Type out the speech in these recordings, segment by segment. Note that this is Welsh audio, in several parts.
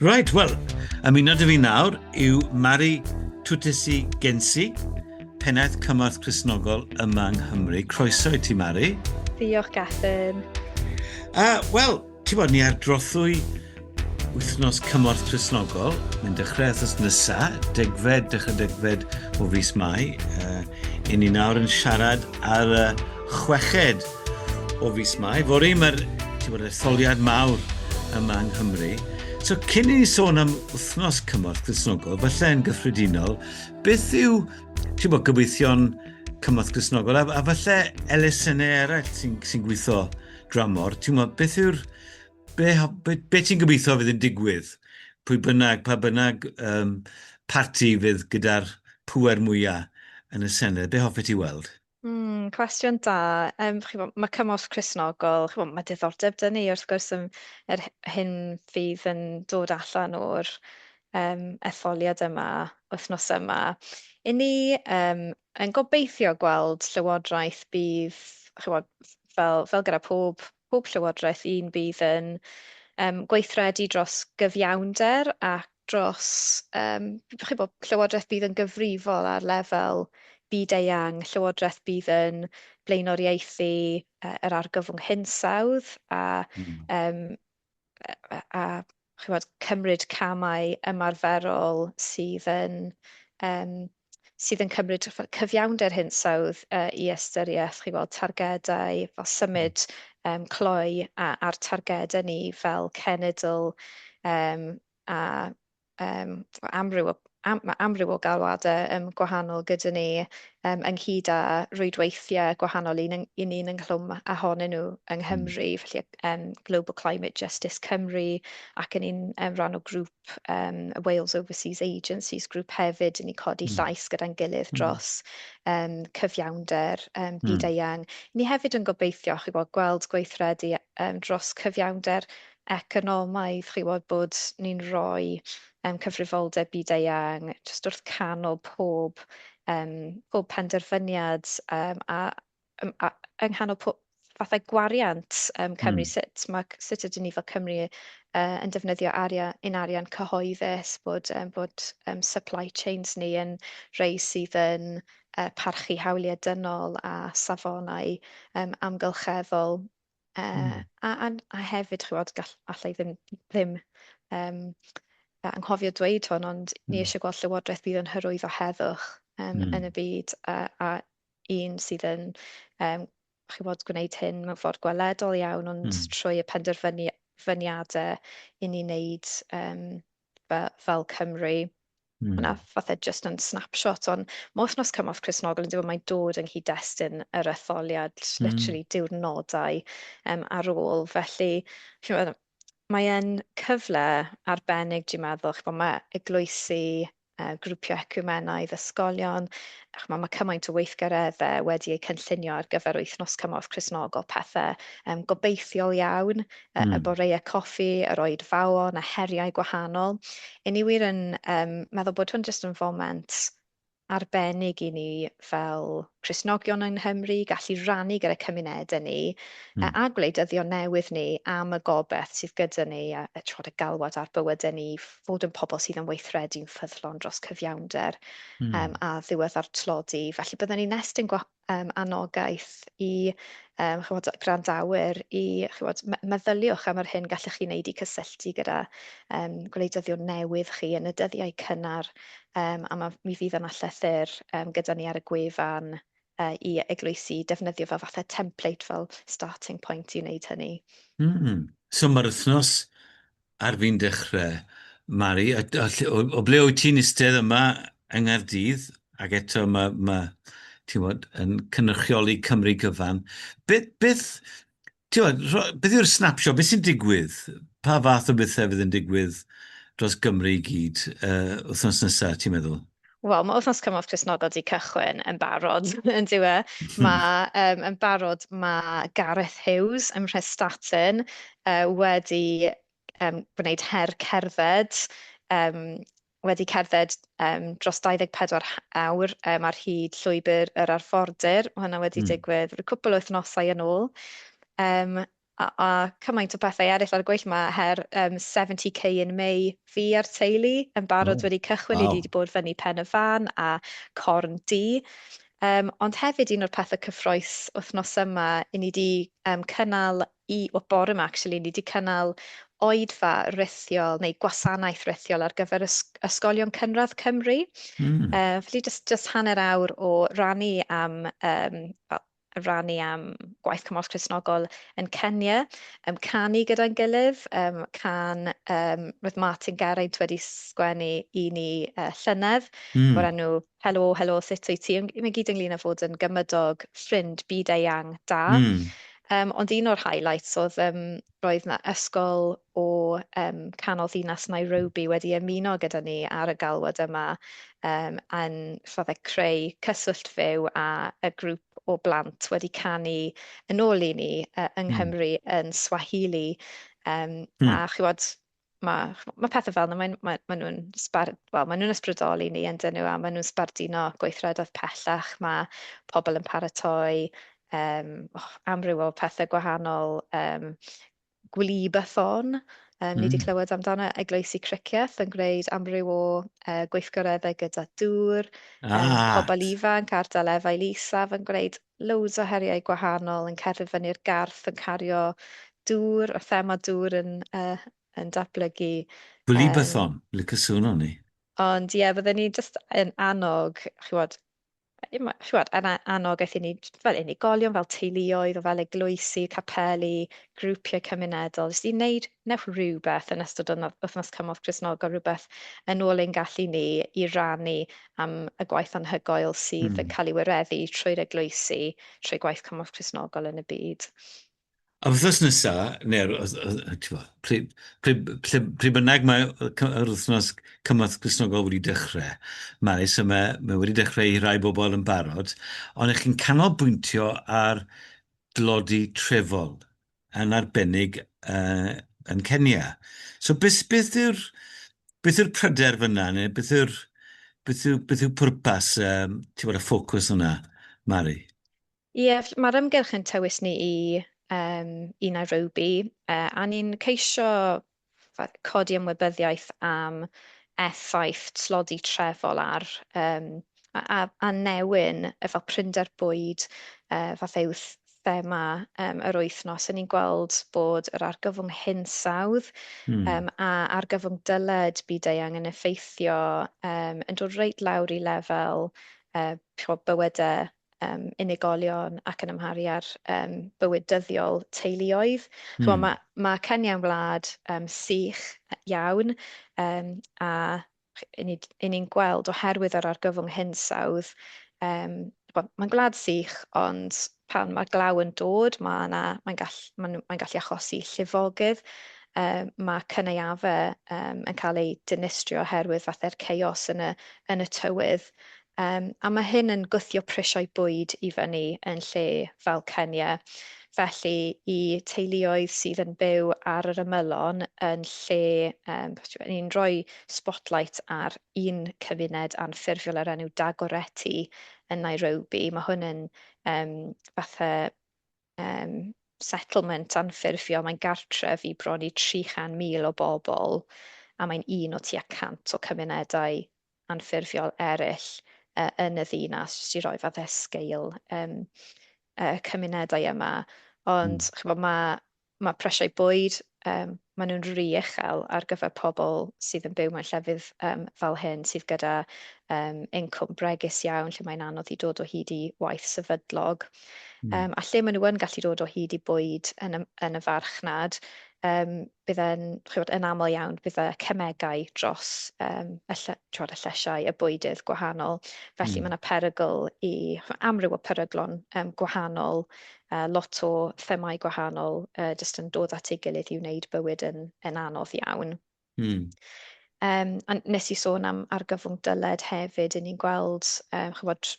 Reit, wel, ymuno dy fi nawr yw Mari Twtesi Gensi, pennaeth cymorth Cresnogol yma yng Nghymru. Croeso i ti, Mari. Diolch, Gethin. Uh, Wel, Ti'n bod, ni ar drothwy wythnos cymorth presnogol, ni'n dechrau wythnos nesa, degfed, dechrau degfed o fus Mai. Uh, I ni nawr yn siarad ar y chweched o fus Mai. Fori, mae'r etholiad mawr yma yng Nghymru. So, cyn i ni sôn am wythnos cymorth presnogol, falle yn gyffredinol, beth yw, ti'n bod, gobeithion cymorth presnogol, a, a falle elusennau eraill sy'n sy gweithio dramor, ti'n gwybod, beth yw'r... Be, be, be ti'n gobeithio fydd yn digwydd? Pwy bynnag, pa bynnag um, parti fydd gyda'r pwer mwyaf yn y Senedd, be hoffet ti weld? Mm, cwestiwn da. Um, chi'n bod, mae cymorth Cresnogol, chi'n bod, mae diddordeb dyn ni wrth gwrs yn yr hyn fydd yn dod allan o'r um, etholiad yma, wythnos yma. I ni, um, yn gobeithio gweld llywodraeth bydd, chymod, fel, fel gyda pob, pob llywodraeth un bydd yn um, gweithredu dros gyfiawnder ac dros um, chymod, llywodraeth bydd yn gyfrifol ar lefel byd-eang, llywodraeth bydd yn blaenoriaethu uh, yr argyfwng hinsawdd a um, a, a chymod, cymryd camau ymarferol sydd yn um, sydd yn cymryd cyfiawnder hinsawdd uh, i ystyriaeth, chi weld targedau fel symud um, cloi a, a'r targedau ni fel cenedl um, a yym ma' amryw o am- ma' amryw o galwadau yym gwahanol gyda ni yym ynghyd â rwydweithiau gwahanol un yng- i ni'n ynghlwm â honyn nhw yng Nghymru, mm. felly um, Global Climate Justice Cymru ac yn un um, rhan o grŵp um, Wales Overseas Agencies grŵp hefyd i ni codi mm. llais gyda'n gilydd hmm. dros um, cyfiawnder um, byd-eang. Mm. Ni hefyd yn gobeithio chi bod, gweld gweithredu um, dros cyfiawnder economaidd, chi'n gwybod, bod ni'n rhoi um, cyfrifoldeb byd-eang jyst wrth canol pob, um, pob penderfyniad um, a, um, a yng nghanol pob, fathau gwariant um, Cymru, mm. sut, ma, sut ydyn ni fel Cymru uh, yn defnyddio arian, un arian cyhoeddus, bod, um, bod um, supply chains ni yn rhai sydd yn uh, parchu hawliau dynol a safonau um, amgylcheddol. Yy a a a hefyd chimod gall- alla i ddim ddim yym yy anghofio dweud hwn ond ni eisiau gweld llywodraeth fydd yn hyrwyddo heddwch yym yn y byd a a un sydd yn yym chimod gwneud hyn mewn ffordd gweledol iawn ond trwy y penderfynu- fyniadau i ni wneud yym fe- fel Cymru Mm. Hwna fatha just yn snapshot, ond mae wythnos cymorth Cresnogol yn dweud mae'n dod yng nghyd-destun yr etholiad, mm. literally diwrnodau um, ar ôl. Felly, chi'n mae e'n cyfle arbennig, dwi'n meddwl, chi'n mae eglwysi, uh, grwpiau ecumenaidd, ysgolion, chi'n mae cymaint o weithgareddau wedi eu cynllunio ar gyfer wythnos cymorth Cresnogol, pethau um, gobeithiol iawn, y, y boreau coffi, yr oedfaon a heriau gwahanol. I ni wir yn um, meddwl bod hwn jyst yn foment arbennig i ni fel Cresnogion yng Nghymru, gallu rannu gyda cymunedau ni mm. a gwleidyddion newydd ni am y gobeith sydd gyda ni a, a trod y galwad ar bywydau ni, fod yn pobl sydd yn weithredu'n ffyddlon dros cyfiawnder mm. um, a ddiwedd ar tlodi. Felly byddwn ni'n estyn um, anogaeth i um, chymod, grandawyr i chymod, meddyliwch am yr hyn gallwch chi wneud i cysylltu gyda um, gwleidyddion newydd chi yn y dyddiau cynnar um, a ma, mi fydd yna llythyr um, gyda ni ar y gwefan uh, i eglwysi defnyddio fel fathau template fel starting point i wneud hynny. Mm. So mae'r wythnos Ar fin dechrau, Mari, a, a lle, o, o ble wyt ti'n istedd yma yng Nghaerdydd, ac eto mae, mae ti'n bod, yn cynrychioli Cymru gyfan. Beth, beth, ti'n bod, rho, beth yw'r snapshot, beth sy'n digwydd? Pa fath o bethau fydd yn digwydd dros Gymru i gyd uh, wythnos nesaf, ti'n meddwl? Wel, mae wythnos cymorth Cristnogol wedi cychwyn yn barod, yn dyw e. Hmm. Mae um, yn barod, mae Gareth Hughes ym Mhrestatyn uh, wedi um, gwneud her cerdded, um, wedi cerdded um, dros 24 awr um, ar hyd llwybr yr arfordir. Mae hwnna wedi mm. digwydd rhyw cwpl o wythnosau yn ôl. Um, a a cymaint o pethau eraill ar y gweill ma her um, 70k in May fi a'r teulu yn barod oh, wedi cychwyn wow. i ni wedi bod fyny pen y fan a corn di um, ond hefyd un o'r pethau cyffroes wythnos yma i ni wedi um, cynnal i o bore yma actually ni wedi cynnal oedfa rithiol neu gwasanaeth rithiol ar gyfer ysgolion cynradd Cymru. Mm. Uh, felly just, just hanner awr o rannu am um, yn rhannu am gwaith cymorth Cristnogol yn Kenya, um, canu gyda'n gilydd, um, can, um, roedd Martin Geraint wedi sgwennu i ni uh, llynedd, mm. o'r enw Helo, Helo, sut wyt ti? Mae gyd ynglyn â fod yn gymydog, ffrind, byd eang, da. Mm. Um, ond un o'r highlights oedd um, Roedd 'na ysgol o um, canol ddinas Nairobi wedi ymuno gyda ni ar y galwad yma um, yn fydde creu cyswllt fyw a y grŵp o blant wedi canu yn ôl i ni uh, yng hmm. Nghymru yn Swahili. Um, hmm. A chywod, mae, mae pethau fel yna, maen, maen, maen nhw'n sbar, well, maen nhw'n ysbrydoli ni yn dyn nhw a maen nhw'n sbarduno gweithredoedd pellach. Mae pobl yn paratoi um, oh, amryw o pethau gwahanol, um, gwylibathon, Um, ni wedi mm. clywed amdano Eglwysi Cricieth yn gwneud amryw o uh, gweithgareddau gyda dŵr, ah. um, pobl ifanc ar dalefail isaf yn gwneud loads o heriau gwahanol yn cerdded fyny'r garth yn cario dŵr a thema dŵr yn yy yn datblygu Blybython! Yym. Lico sŵn ohoni. Ond ie fydden ni jyst yn annog ch'wod yy ma' ch'wod yn a- annog aethon ni j- fel unigolion fel teuluoedd o fel eglwysi, capeli, grwpiau cymunedol jyst i wneud wnewch rhywbeth yn ystod y wythnos cymorth Cristnogol, rhywbeth yn ôl ein gallu ni i rannu am y gwaith anhygoel sydd mm. yn cael ei wireddu trwy'r eglwysi, trwy gwaith cymorth Cristnogol yn y byd. A wythnos nesa, neu'r pryd, pryd, pryd bynnag mae yr wythnos cymorth Cristnogol wedi dechrau, mae, so mae, mae wedi dechrau i rai bobl yn barod, ond ych chi'n canolbwyntio ar dlodi trefol. yn arbennig yy yn Kenya. So beth, beth yw'r beth yw'r pryder fyna, neu beth yw'r beth yw, beth yw pwrpas um, ti'n bod y ffocws yna, Mari? Ie, yeah, mae'r ymgyrch yn tywys ni i um, i Nairobi, uh, a ni'n ceisio codi ymwybyddiaeth am effaith tlodi trefol ar yym a a a newyn efo prinder bwyd yy fatha yw th- thema yym yr wythnos a ni'n gweld bod yr argyfwng hinsawdd Hmm. yym a argyfwng dyled byd-eang yn effeithio yym yn dod reit lawr i lefel yy ch'mo' bywyde um, unigolion ac yn amharu ar um, bywyd dyddiol teuluoedd. Hmm. Chwa, mae, mae Kenya'n wlad um, sych iawn um, a i ni, ni'n gweld oherwydd yr argyfwng hinsawdd, um, mae'n gwlad sych ond pan mae glaw yn dod mae yna, mae'n gall, mae, mae gallu achosi llifogydd, um, mae cyneuafau um, yn cael eu dinistrio oherwydd fathau'r chaos yn y, yn y tywydd Yym, a mae hyn yn gwthio prisiau bwyd i fyny yn lle fel Kenya. Felly, i teuluoedd sydd yn byw ar yr ymylon yn lle, um, ni'n rhoi spotlight ar un cymuned anffurfiol ar enw Dagoretti yn Nairobi. Mae hwn yn um, fatha um, settlement anffurfiol, mae'n gartref i bron i 300,000 o bobl, a mae'n un o tua 100 o cymunedau anffurfiol eraill yn y ddinas, jyst i roi fatha sgeil um, y cymunedau yma. Ond mm. chybod, mae, mae presiau bwyd, um, maen nhw'n rhi uchel ar gyfer pobl sydd yn byw mewn llefydd um, fel hyn, sydd gyda um, incwm bregus iawn, lle mae'n anodd i dod o hyd i waith sefydlog. Mm. Um, a lle maen nhw yn gallu dod o hyd i bwyd yn y, yn y farchnad, um, bydd e'n, chywod, yn aml iawn, bydd y cemegau dros um, y, lle, chywod, y llesiau, y bwydydd gwahanol. Felly mm. mae yna perygl i amryw o peryglon um, gwahanol, uh, lot o themau gwahanol, uh, jyst yn dod at ei gilydd i wneud bywyd yn, yn anodd iawn. Mm. Um, a nes i sôn am argyfwng dyled hefyd, yn ni'n gweld, um, chywod,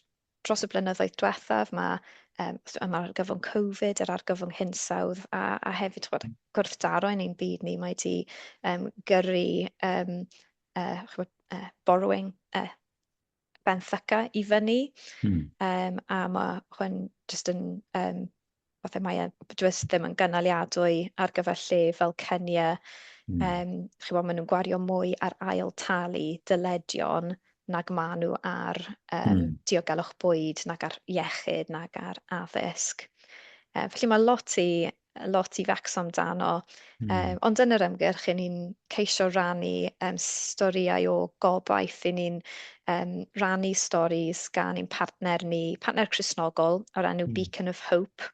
dros y blynyddoedd diwethaf, mae um, yma argyfwng Covid, yr argyfwng hinsawdd, a, a hefyd bod gwrthdaro yn ein byd ni, mae wedi um, gyrru um, uh, chwbod, uh, borrowing uh, benthyca i fyny, hmm. um, a mae hwn jyst yn um, fatha mae e jyst ddim yn gynaliadwy ar gyfer lle fel Kenya. Mm. Um, chi'n bod, maen nhw'n gwario mwy ar ail talu dyledion nag maen nhw ar um, mm. diogelwch bwyd, nag ar iechyd, nag ar addysg. Um, felly mae lot i, lot i fecso amdano. Mm. Um, ond yn yr ymgyrch, i ni'n ceisio rannu um, storïau o gobaith, i ni'n um, rannu storys gan ein partner ni, partner Cresnogol, o'r enw mm. Beacon of Hope,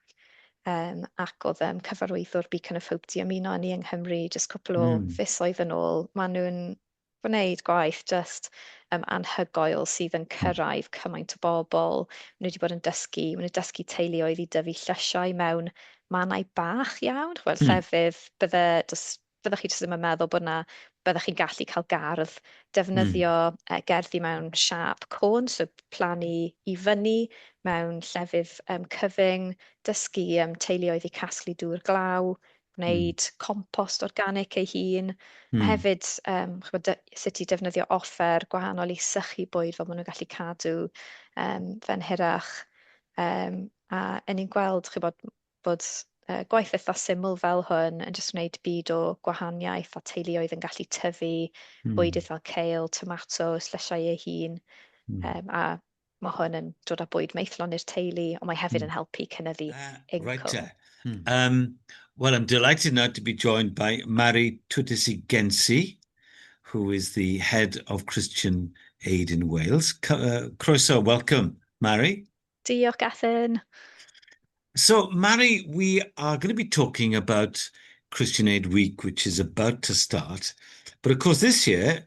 um, ac oedd um, cyfarwyddwr Beacon of Hope di ymuno ni yng Nghymru jyst cwpl o mm. fisoedd yn ôl. Maen nhw'n gwneud gwaith jyst um, anhygoel sydd yn cyrraedd cymaint o bobl. Maen nhw wedi bod yn dysgu, maen nhw'n dysgu teuluoedd i dyfu llysiau mewn mannau bach iawn, chwbl, mm. llefydd bydde, dos, byddwch chi jyst ddim yn meddwl bod yna, byddwch chi'n gallu cael gardd, defnyddio mm. uh, gerddi mewn siap côn, so plannu i fyny mewn llefydd um, cyfyng, dysgu um, teuluoedd i casglu dŵr glaw, gwneud mm. compost organic ei hun, mm. a hefyd um, chybod, sut i defnyddio offer gwahanol i sychu bwyd fel maen nhw'n gallu cadw um, fe'n hirach. Um, a yn ni'n gweld chybod, bod uh, gwaith eitha syml fel hwn yn jyst gwneud byd o gwahaniaeth a teuluoedd yn gallu tyfu mm. bwydydd fel cael, tomatos, llysiau ei hun, mm. um, a Mae hwn yn dod â bwyd maethlon i'r teulu, ond mae hefyd yn helpu cynyddu incwm. Right te. Um, well, I'm delighted now to be joined by Mari Tutisi Gensi, who is the head of Christian Aid in Wales. C uh, croeso, welcome, Mari. Diolch, Gethin. So, Mari, we are going to be talking about Christian Aid Week, which is about to start. But of course, this year,